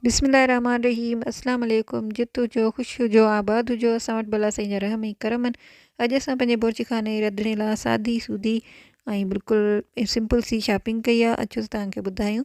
بسم الله الرحمن الرحيم اسلام عليڪم جت هجو خوش هجو آباد هجو اسان وٽ ڀلا سائين جا رحم ۽ ڪرم آهن اڄ اسان پنهنجي بورچي خانه جي رڌڻي لاء سادي سودي ۽ بلڪل سمپل سي شاپنگ ڪئي آهي اچو ته توهان کي ٻڌايون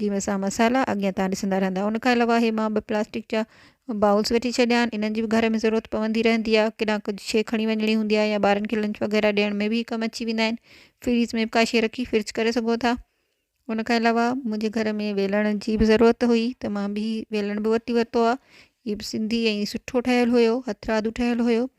جي ۾ اسان مصالحا اڳيان تان ڏسندا رهندا ان کان علاوه هي مان ٻه پلاسٽڪ جا بائولس وٺي ڇڏيا آهن انهن جي به گهر ۾ ضرورت پوندي رهندي آهي ڪيڏانهن ڪجهه شي کڻي وڃڻي هوندي آهي يا ٻارن کي لنچ وغيره ڏيڻ ۾ به ڪم اچي ويندا آهن فريز ۾ به ڪا شي رکي فرج ڪري سگهو ٿا ان کان علاوه منهنجي گهر ۾ ويلڻ جي به ضرورت هئي ته مان به ويلڻ به وٺي ورتو آهي هي به سنڌي ۽ سٺو ٺهيل هيو هٿرادو ٺهيل هيو